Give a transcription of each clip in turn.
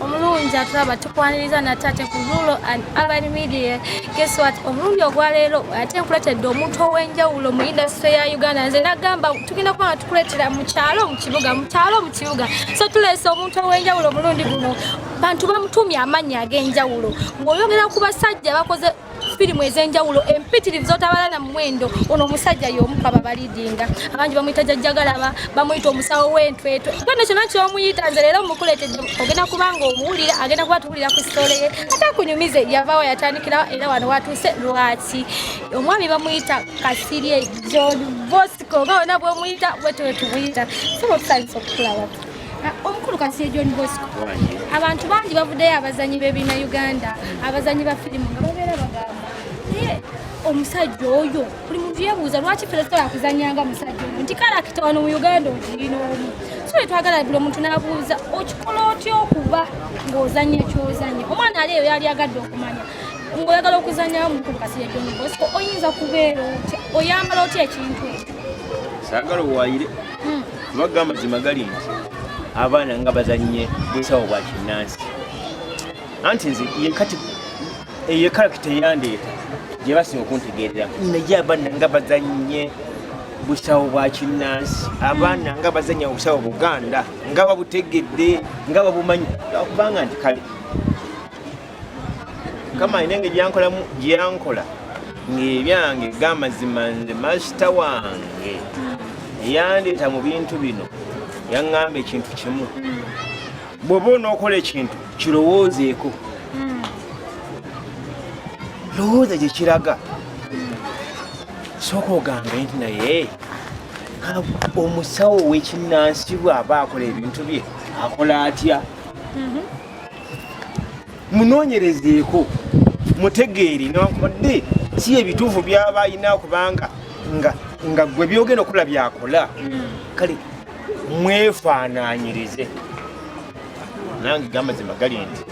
omulungi atulaba tukwaniriza nate ate ku rulo and urban media guess what omulundi ogwaleero ate nkuletedde omuntu ow'enjawulo mu indasitry ya uganda nze nagamba tugenda kuba nga tukuleetera mu kyalo mu kibuga mu kyalo mu kibuga so tuleese omuntu ow'enjawulo omulundi guno bantu bamutumye amannya ag'enjawulo ng'oyogera ku basajja bakoze firimu ez'enjawulo empitirivu zotabala na muwendo ono omusajja y'omu kwaba balidinga abangi bamuyita jajjagalaba bamuyita omusawo w'entwetwe kyona kyona kyomuyita nze leero mukuleetedde ogenda kubanga omuwulira agenda kuba tuwulira ku sitole ye ate akunyumize yavaawo yatandikirawo era wano watuuse lwaki omwami bamuyita kasirye john bosco nga wona bwomuyita bwetwetubuyita sobotusanyisa okukulaba omukulu kasiye john bosco abantu bangi bavuddeyo abazanyi bebina uganda abazanyi ba firimu nga babeera bagamba naye omusajja oyo buli muntu yebuuza lwaki ffe tusobola kuzanyanga musajja oyo nti karakita wano mu uganda ogirina omu so etwagala buli omuntu nabuuza okikola otya okuba ng'ozanya kyozanya omwana ali eyo yali agadde okumanya ng'oyagala okuzanyawo mukulu kasiye john bosco oyinza kubeera otya oyambala otya ekintu ekyo sagala owayire hmm. Amagga amazima gali nti abaana nga bazannye busawo bwa kinnansi anti nze yekati eyo ekalakita eyandeeta gye basinga okuntegeerera naye abaana nga bazannye busawo bwa kinnansi abaana nga bazannya obusawo buganda nga babutegedde nga babumanyi kubanga nti kale kama alina engeri yankolamu gyeyankola ng'ebyange gamazima nze masita wange yandeeta mu bintu bino yaŋŋamba ekintu kimu bw'oba onookola ekintu kirowoozeeko lowooza gye kiraga sooka ogambe nti naye omusawo w'ekinnansi bw'aba akola ebintu bye akola atya mhm. munoonyerezeeko mutegeere newankubadde si ebituufu byaba alina kubanga nga gwe byogenda okula byakola kale mwefaananyirize nange gamazima gali nti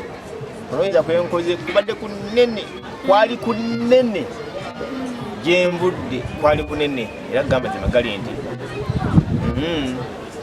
olowooza kwenkoze kubadde ku nene kwali ku nene gyenvudde kwali ku nene era gamazima gali nti hmm.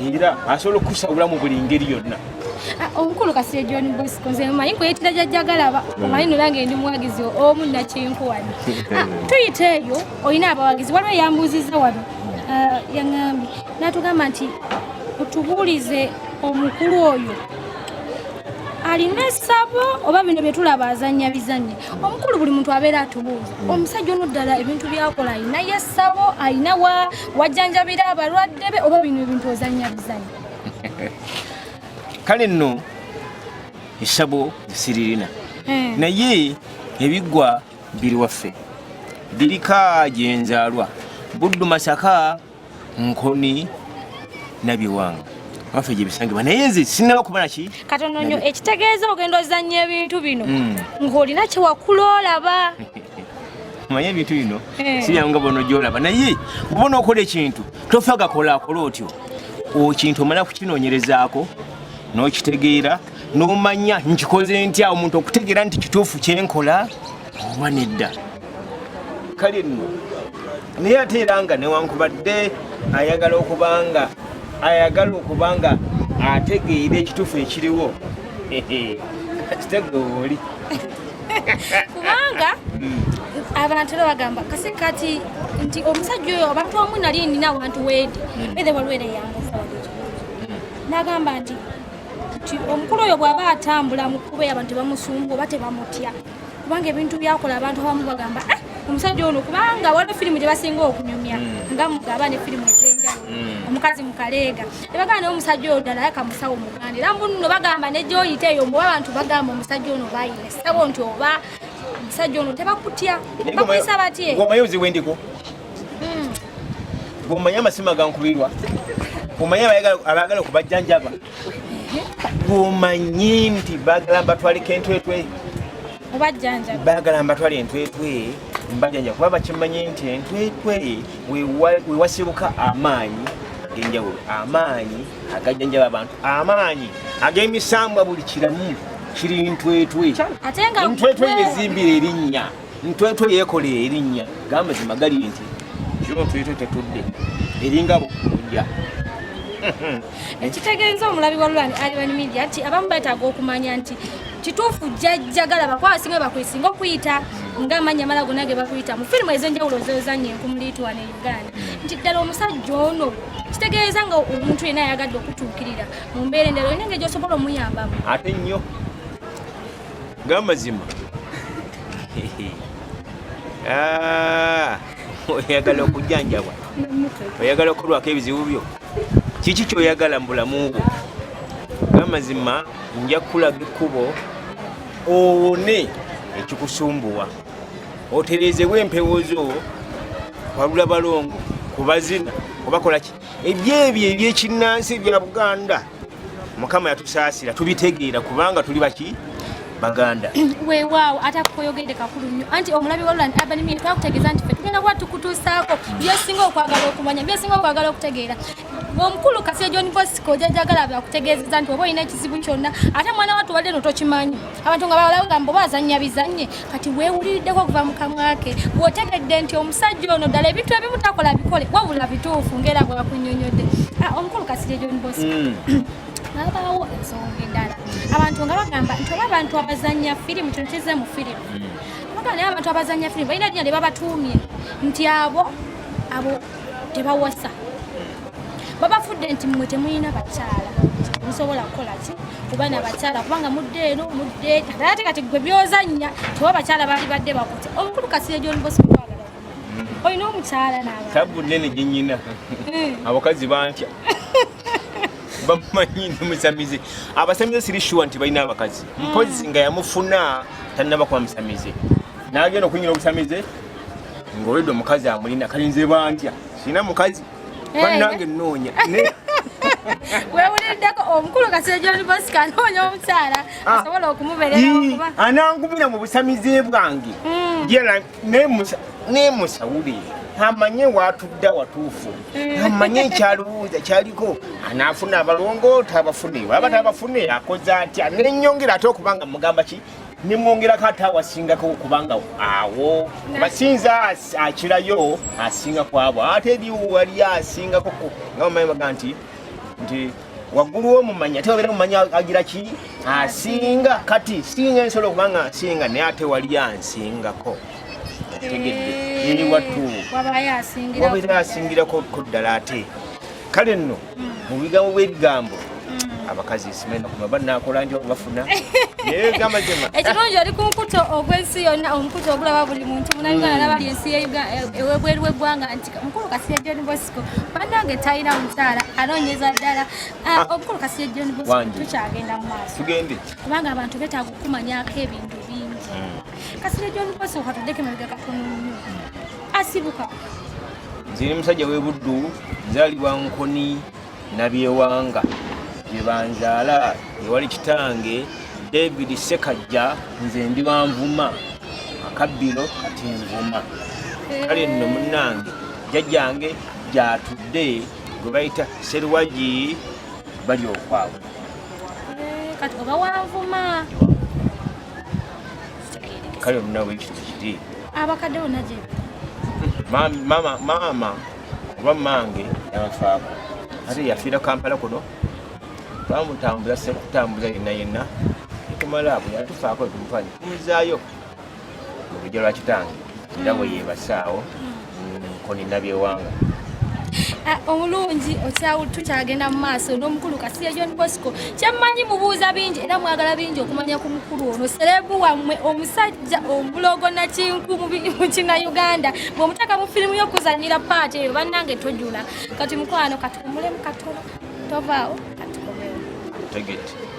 era asobola okukusa obulamu buli ngeri yonna ah, omukulu kasire john bosco nze mumanyi kweyitira jajjagalaba hmm. omanyi nolange ndi muwagizi omu nakinkuwani ah, tuyita eyo olina abawagizi waliwo eyambuuzizza wano ah, yaŋambye natugamba nti otubuulize omukulu oyo alina esabo oba bino byetulaba azanya bizanya omukulu buli muntu abeera atubuuza hmm. omusajja ono ddala ebintu byakola alinayo esabo alina wa wajjanjabira abalwadde be oba bino ebintu ozannya bizannya kale nno esabo siririna eh. naye ebiggwa biri waffe birika gyenzaalwa buddu masaka nkoni nabiwanga waffe gyebisangibwa naye nze sinaba kuba naki katono nyo ekitegeeza ogenda ozannya ebintu bino hmm. ng'olina kyewakulolaba manye ebintu bino eh. sibyangu nga bono gyolaba naye bubona okola ekintu tofa gakola akola otyo okintu omala kukinoonyerezaako n'okitegeera n'omanya nkikoze ntya omuntu okutegeera nti kituufu kyenkola oba nedda kale nno naye ate era nga newankubadde ayagala okuba nga ayagala okuba nga ategeera ekituufu ekiriwo kitegeoli kubanga abantu era bagamba kasi kati nti omusajja oyo abantu wamu nali nina awantu weedi ethe waliwo era eyangasawadeekyo nagamba nti nti omukulu oyo bw'aba atambula mu kuba eyo abantu tebamusumba oba tebamutya kubanga ebintu byakola abantu abamu bagamba ah, omusajja ono kubanga waliwo firimu gye basinga okunyumya hmm. nga mugaba ne firimu ez'enjawulo hmm. omukazi mukaleega tebagamba naye omusajja oyo ddala yaka musawo muganda era mbununo bagamba negyoyita eyo mbuba abantu bagamba omusajja ono bayina esawo nti oba omusajja ono tebakutya bakuyisa batye omaye oziwe ndiko hmm. omaye amasima gankubirwa omaye abagala okubajjanjaba gwomanyi nti bagala mbatwale kentwetwe bagala mbatwale entwetwe mbajanja kuba bakimanyi nti entwetwe wewasibuka amaanyi agenjawulo amaanyi agajanjaba abantu amaanyi agemisambwa buli kiramu kiri ntwetwe ntwetwe yezimbira erinnya ntwetwe yekola erinnya gamba zimagali nti kiro ntwetwe tetudde eringa bukunja ekitegeeza omulabi wa lulani alibani media nti abamu betaaga okumanya nti kituufu jajjagala bakwaba singa bakwesinga okuyita nga amanya mala gona ge bakuyita mu firimu ezenjawulo zozanya enkumuliitwana e uganda nti ddala omusajja ono kitegeeza nga omuntu yena ayagadde okutuukirira mu mbeera endala olina engeri gyosobola omuyambamu ate nnyo gamazima ah, oyagala okujanjabwa oyagala okulwako ebizibu byo kiki kyoyagala mu bulamu bwo gamazima nja kukulaga ekkubo owone ekikusumbuwa otereezewo empewo zo walula balongo kubazina obakolaki ebyo ebyo ebyekinnansi ebya buganda mukama yatusaasira tubitegeera kubanga tuli baki baganda weewaawo ate akukoyogedde kakulu nnyo anti omulabi walulan abanimie twakutegeeza nti fe tugenda kuba tukutuusaako byosinga okwagala okumanya byosinga okwagala okutegeera omukulu kasi ejon bosco jajagala byakutegeezeza nti oba olina ekizibu kyonna ate mwana watu wadde no tokimanyi abantu nga bawalawo gambo bazannya bizannye kati weewuliriddeko okuva mu kamwa ke bw'otegedde nti omusajja ono ddala ebintu ebimu takola bikole wabula bituufu ng'era bwakunyonyodde ah, omukulu kasirye john bos mm. abaawo ensonga endala abantu nga bagamba nti oba abantu abazannya firimu kino kize mu firimu mm. bagamba naye abantu abazannya firimu balina dina lye babatuumye nti abo abo tebawasa babafudde nti mmwe temulina bakyala musobola kukola ki kuba na bakyala kubanga mudde eno mudde ate kati gwe byozannya tewa bakyala baali badde bakuti omukulu kasire gyolibosq mm. olina omukyala natabu nene gyenyina eh. abakazi bantya bamanyi nomusamize abasamize siri shuwa nti balina abakazi mm. mpozi nga yamufuna tanaba kuba musamize nagenda okunyira obusamize ng'oyedde omukazi amulina kalinze bantya sirina mukazi eh. bannange nnoonya wewuliddeko omukulu kasejonibosika anoonya omukyala ah. asobola okumubereraokuba anangumira mu busamize bwange hmm. yera nemusawulire amanye watudda watuufu eh. amanye ekyalowooza kyaliko anaafuna abalongoota abafune waba tabafune akoze atya nenyongera ate okubanga mugamba ki nemwongerako ate awasingako kubanga awo basinza akirayo asinga kwabo ate eri wali asingako nga bamanyi baga nti nti waggulu womumanya ate wabeera mumanya agira ki asinga kati singa ensobola okubanga asinga naye ate wali ansingako tegedde eri wattu wabeera asingirako ddala ate kale nno mu bigambo bw'ebigambo mm. abakazi esimena kuma banakola njo bafuna ekirungi oli ku mukuto ogw'ensi yonna omukuto ogulaba buli muntu munayuganda naba li ensi ewebweru w'eggwanga nti mukulu kasiya john bosco banange talina mukyala anoonyeza ddala ah, ah. omukulu kasiya john bosco tukyagenda mu maaso kubanga abantu betaaga okukumanyako ebintu bingi mm. kasiya john bosco katudeko emabega katono nnyo asibuka nze ne musajja w'e buddu nzaalibwa nkoni nabyewanga gye banzaala ewali kitange david sekajja nze ndi banvuma akabbiro kati nvuma kale nno munnange jjajjange gyatudde gwe bayita serwagi bali okwabwe eh, kati oba wanvuma kale munawe ekintu kiri abakadde bona gye mama mama oba mange yabafaako ate yafiira kampala kuno bamutambula sekutambuza yenna yenna ekumala bwe yatufaako ekumufani kumuzaayo mu lujja lwa kitange era bwe yebasaawo Koni Nabyewanga ah, omulungi tukyagenda mu maaso n'omukulu kasiya john bosco kyemmanyi mubuuza bingi era mwagala bingi okumanya ku mukulu ono serebu wammwe omusajja omulogo nakinku mukina uganda bwomutaka mu firimu y'okuzanyira paati eyo bannange tojula kati mukwano kati omulemu katono tovaawo kati komewo